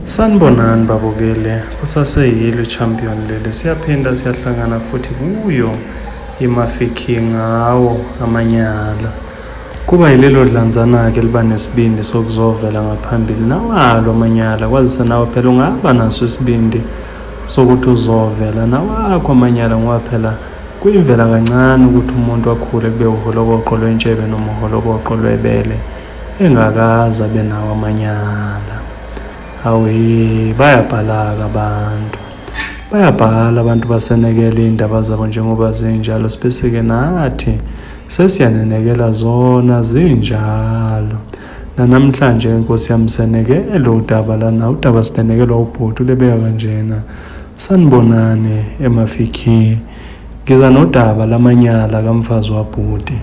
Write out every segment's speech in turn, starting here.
Sanibonani babukele, kusaseyilo champion leli, siyaphinda siyahlangana futhi kuyo iMafiki ngawo amanyala. Kuba yilelo dlanzana-ke liba nesibindi sokuzovela ngaphambili nawalo amanyala, kwazise nawe phela ungaba naso isibindi sokuthi uzovela nawakho amanyala ngoba phela Kuyimvela kancane ukuthi umuntu akhule kube uholokoqo lwentshebe noma uholokoqo lwebele engakaze abe nawo amanyala. Awee, bayabhalaka abantu. Bayabhala abantu basenekela iy'ndaba zabo njengoba zinjalo sibese-ke nathi sesiyanenekela zona zinjalo. nanamhlanje nkosi yami seneke elo udaba lana udaba sinenekelwa ubhuti ulebeka kanjena sanibonani emafikhi ngiza nodaba lamanyala kamfazi wabhuti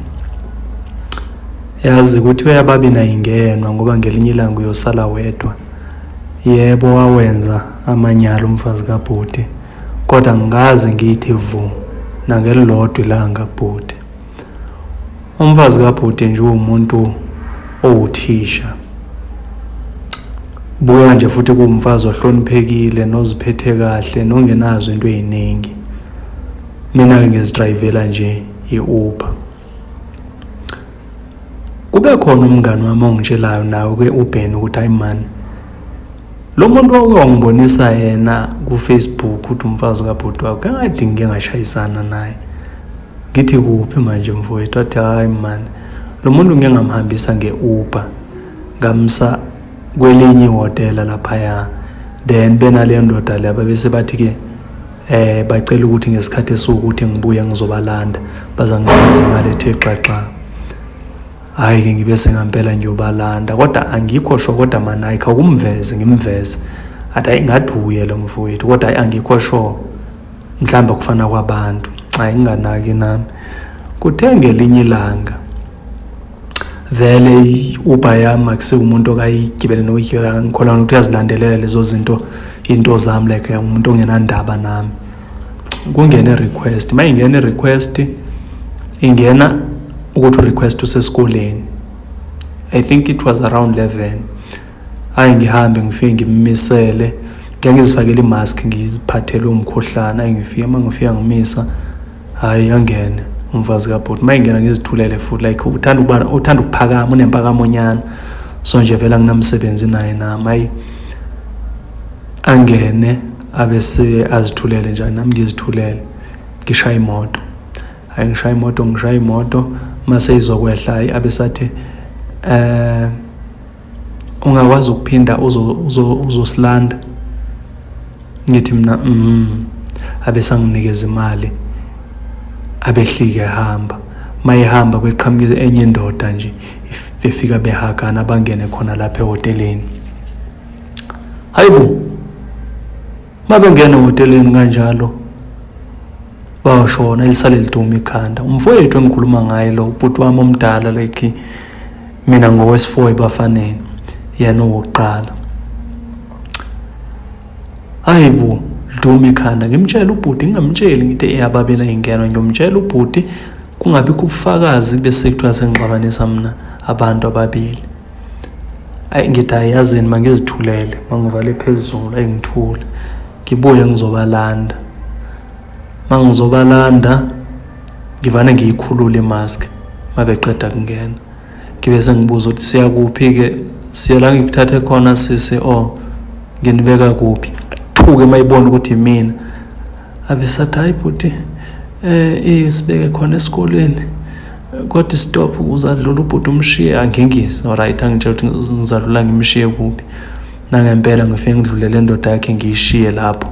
yazi ukuthi uyababi nayingenwa ngoba ngelinye ilanga uyosala wedwa yebo wawenza amanyala umfazi kabhuti kodwa ngikaze ngiyithi vu nangelilodwa ilanga bhuti Umfazi kabhuti nje uwumuntu owuthisha. Buya nje futhi kuwumfazi ohloniphekile noziphethe kahle nongenazo into eziningi. Mina ke ngizidrayivela nje i-Uber. Kube khona umngani wami ongitshelayo nawe ke uBen ukuthi hayi man lo muntu wake wangibonisa yena ku-Facebook ukuthi umfazi kabhuti wakho kangadingi ngingashayisana naye ngithi kuphi manje mfowethu wathi hhayi mani lo muntu ngike ngamhambisa nge-uber ngamsa kwelinye ihhotela laphaya then benaleyo ndoda le ababese bathi-ke eh bacela ukuthi ngesikhathi esiwukuthi ngibuye ngizobalanda bazanginikeza imali ethe xaxa hhayi ke ngibe sengampela ngiyobalanda kodwa angikho sho kodwa manayi khawukumveze ngimveze athi hayi ngathi uye lo mfowethu kodwa hayi angikho sho mhlawumbi ukufana kwabantu nxa inganaki nami kuthe ngelinye ilanga vele i-uber yami akusiwumuntu okayigibele nokuyigibela ngikholana ukuthi uyazilandelela lezo zinto into zami like umuntu ongenandaba nami kungena i-request uma ingena i-request ingena ukuthi u-request usesikoleni i think it was around 11 hayi ngihambe ngifike ngimmisele ngangizifakela imask ngiziphathele umkhuhlane ayingifike uma ngifika ngimisa hayi angene umfazi kabhuti uma ingena ngizithulele futhi like uthanda ukuba uthanda ukuphakama unempakamonnyana so nje vele anginamsebenzi naye nami ayi angene abese azithulele nje nami ngizithulele ngishaya imoto hayi ngishaya imoto ngishaya imoto mase izokwehla ayi abesathi eh ungakwazi ukuphinda uzosilanda ngithi mina mm abesanginikeza imali abehlike hamba mayehamba kweqhamuke enye indoda nje befika behagana bangene khona lapha ehoteleni hayibo Uma bengena ehoteleni kanjalo bayoshona elisale liduma ikhanda umfowethu engikhuluma ngaye lo ubhuti wami omdala like mina ngowesifour ebafaneni yena owokuqala hayi bo liduma ikhanda ngimtshela ubhuti ngingamtsheli ngithi eyababela ingeno ngiyomtshela ubhuti kungabikho ubufakazi bese kuthiwa sengixabanisa mina abantu ababili ayi ngithi ayazini mangizithulele mangivale phezulu ayi ngithule ngibuye ngizobalanda mangizobalanda ngivane ngiyikhulule imask mabeqeda kungena ngibe sengibuza ukuthi siyakuphi-ke siyela ngikuthathe khona sisi o oh, nginibeka kuphi athuke mayibona ukuthi mina abesathi hayi bhuti um eh, sibeke khona esikoleni kodwa stop uzadlula ubhuti umshiye angingise oright angitshela ukuthi ngizadlula ngimshiye kuphi nangempela ngifike ngidlulele indoda yakhe ngiyishiye lapho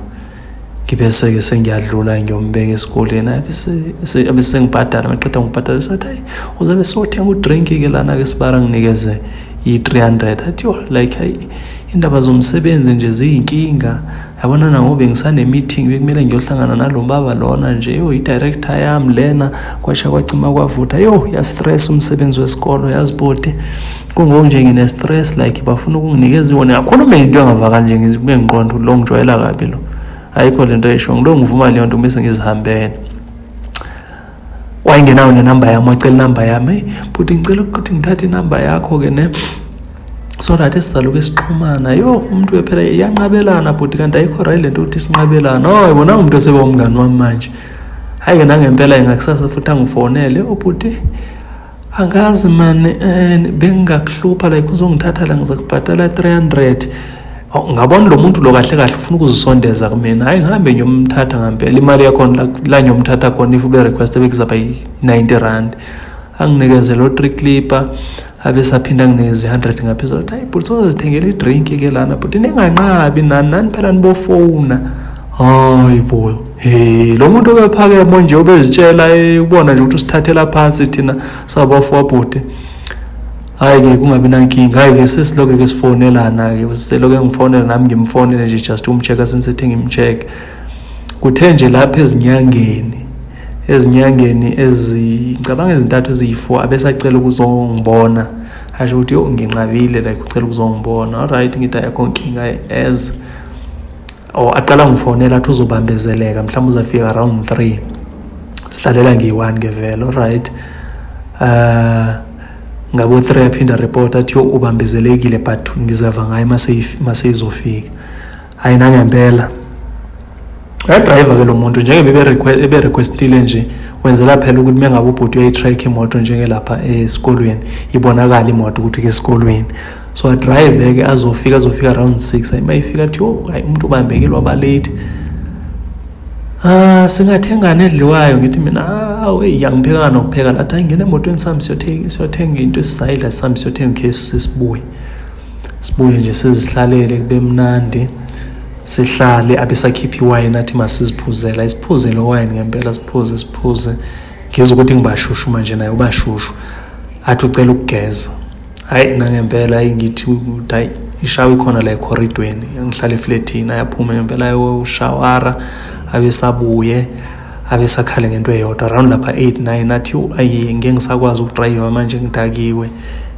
ngibese-ke sengiyadlula ngiyombeka esikoleni abe sengibhadala maqeda ngibhadala sathi hayi uzabe sothenga udrink-ke lana-ke sibara nginikeze i-three hundred athi yo like hayi indaba zomsebenzi nje ziyinkinga yabona nangoba bengisanemeeting bekumele ngiyohlangana nalo baba lona nje yo i-director yami lena kwasha kwacima kwavutha yo yastress umsebenzi wesikolo yaziboti kungonje ngine-stress like bafuna ukunginikeza iwona yakhuluma into engavakali nje ngizibe ngiqonda lo ngijwayela kabi lo ayikho le nto esho ngilo ngivuma leyo nto bese ngizihambele wayengenayo nenamba yami wacela inamba yami eyi bhuti ngicela ukuthi ngithathe inamba yakho-ke ne so that sizaloku esixhumana yo umuntu wephela iyanqabelana bhuti kanti ayikho right le nto ukuthi sinqabelana oy bona umuntu oseba umngani wami manje hhayi-ke nangempela-ke ngakusasa futhi angifonele obhuti oh, angazi mani um eh, bengingakuhlupha like uzongithatha la ngiza kubhatala 300 ngabona lo muntu lo kahle kahle ufuna ukuzisondeza kumina hayi ngihambe ngiyomthatha ngampela imali yakhona la ngiyomthatha khona if ube request bekuzaba yi-90 rand anginikeze lo three clipper abe saphinda nginezi-100 ngaphezulu hayi bhuti sozozithengela idrink ke lana bhuti ninganqabi nani nani phela nibofowuna hayi boyo Hey, lo muntu obephakemo nje obezitshela eh, ubona nje ukuthi usithathela phansi thina sabafo wabhuti hayi ke kungabi nankinga hayi ke sesiloke ke sifonelana ke seloke ngifonela nami ngimfonele nje just umcheck since ethi ngimcheck kuthe nje lapha ezinyangeni ezinyangeni ezicabanga ezintathu eziyi-four abesacela ukuzongibona asho ukuthi yo nginqabile like ucela ukuzongibona allright ngithi ayakho nkinga as or oh, aqala ngifonela athi uzobambezeleka mhlawumbe uzafika around three sihlalela ngiyi-one ke vele olright um uh, ngabo-three aphinde areport athi ubambezelekile but ngizava ngayo maseyizofika hhayi nangempela uyadrayiva ke lo muntu njengebe eberequestile nje wenzela phela ukuthi mengabe ubhuti uyayi-track imoto njengelapha esikolweni ibonakala imoto ukuthi ke esikolweni so adrive ke azofika azofika around 6 ayima ifika athi yo hayi umuntu ubambekile waba late ah singathengana edliwayo ngithi mina awu eyi angiphekanga nokupheka lathi hayi ngena emotweni sami siyothenga siyothenga into esisayidla sami siyothenga KFC sibuye sibuye nje sizihlalele kube mnandi sihlale abesakhipha iwayini athi masiziphuzela isiphuze lo wayini ngempela siphuze siphuze ngizwa ukuthi ngibashushu manje naye ubashushu athi ucela ukugeza hayi nangempela hayi ngithi ukuthi hayi ishawa ikhona la ekhoridweni angihlala efletini ayaphuma ngempela ayoshawara abesabuye abesakhale ngento eyodwa around lapha 8 9 athi ayi ngeke ngisakwazi ukudrayiva manje ngidakiwe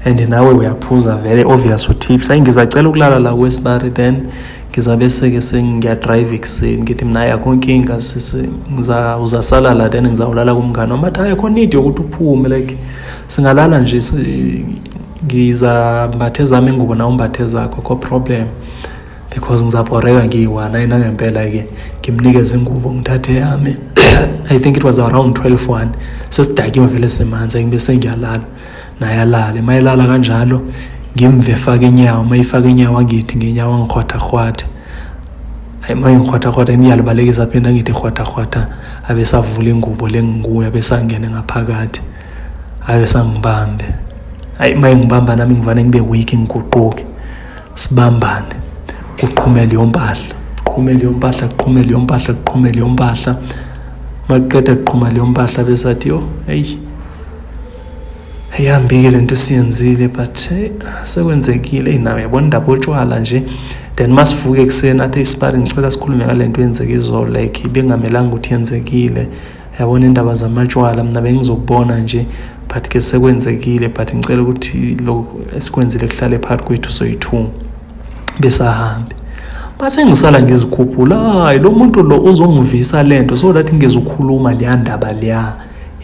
and nawe uyaphuza vele obvious utips ayi ngizacela ukulala la kwesibari then ngizabe seke sengiyadrayiva ekuseni ngithi mina ayi akho nkinga sisi uzasala la then ngizawulala kumngane wami athi ayi akho need yokuthi uphume like singalala nje ngizambathe zami ingubo na umbathe zakho ko problem because ngizabhoreka ngiyi-one ayi nangempela-ke ngimnikeze ingubo ngithathe yami i think it was around 12 one sesidakiwe vele simanzi angibe sengiyalala naye alale uma elala kanjalo ngimve fake inyawo uma ifake inyawo angithi ngenyawo angikhwathahwathe hayi uma ngikhwathahwatha ngiyalibalekisa phinde angithi khwathahwatha abesavula ingubo lengikuyo abesangene ngaphakathi hayi sangibambe hayi uma engibamba nami ngivane ngibe weak ngiguquke sibambane kuqhumele yompahla kuqhumele yompahla kuqhumele yompahla kuqhumele yompahla makuqeda kuqhuma leyo mpahla besathi yo eyi ayihambike le nto siyenzile but eh, sekwenzekile eyi nawe yabona indaba otshwala nje then uma sivuke ekuseni athi isipari ngicela sikhulume ngale nto yenzeke izolo like bengamelanga ukuthi yenzekile yabona indaba zamatshwala mina bengizokubona nje but ke sekwenzekile but ngicela ukuthi lo esikwenzile kuhlale phakathi kwethu soyithuma besahambe base ngisala ngizikhuphula hayi lo muntu lo uzongivisa lento so that ngizokhuluma leya ndaba leya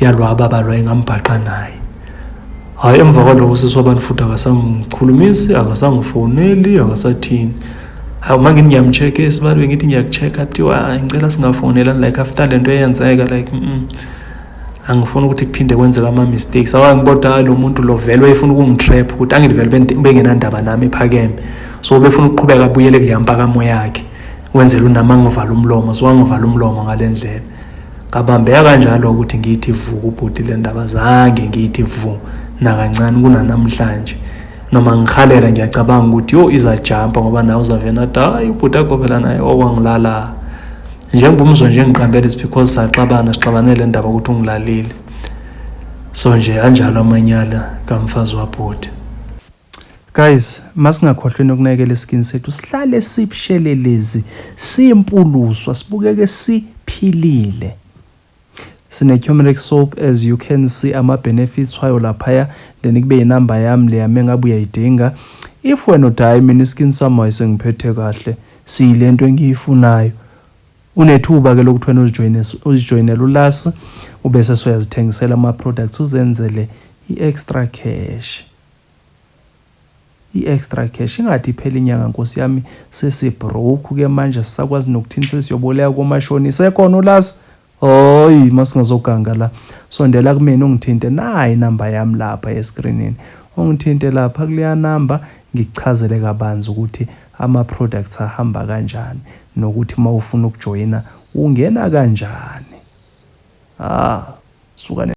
yalwaba balwa ingambhaqa naye hhayi emva kwaloko sisi wabantu futhi akasangikhulumisi akasangifoneli akasathini hayi uma ngithi ngiyamcheck-a esibalwe ngithi ngiyaku-check-a kuthiwa hayi ngicela singafonelani like after le nto eyenzeka like mm -mm. angifuni ukuthi kuphinde kwenzeka ama-mistakes awa ngibodwa ah, lo muntu lo vele wayefuna ukungitrap ukuthi angithi vele bengenandaba nami ephakeme so befuna ukuqhubeka abuyele kuleya mpakamo yakhe wenzela unami angivala umlomo so angivala umlomo ngale ndlela ngabambeka kanjalo ukuthi ngiyithi vu kubhuti le ndaba zange ngiyithi vu nakancane kunanamhlanje noma ngihalela ngiyacabanga ukuthi yo izajampa ngoba nawe uzavena athi hayi ubhuti akho phela naye okwangilala njengoba umzwa nje ngiqambele is because saxabana sixabanele ndaba ukuthi ungilalile so nje anjalo amanyala kamfazi wabhuti Guys, masingakhohlwe nokunakekela iskin sethu sihlale sibushelelezi, simpuluswa, sibukeke siphilile. Sine turmeric soap as you can see ama benefits wayo laphaya, then kube inamba yami leya mengabe uyayidinga. If wena uthi hayi mina iskin sami wayesengiphethe kahle, siyilento engiyifunayo. Unethuba ke lokuthi wena uzijoyine uzijoyinele ulasi ubese soyazithengisela ama products uzenzele i-extra cash. I extra cash ingathi iphela inyanga nkosi yami sesi broke ke manje sisakwazi nokuthini sesiyoboleka komashonisa ekhona ulasi Hoyi masingazoganga la sondela kumina ungithinte nayi inamba yami lapha escreenini ungithinte lapha kuleya namba ngikuchazele kabanzi ukuthi ama products ahamba kanjani nokuthi mawufuna ukujoyina ungena kanjani ah suka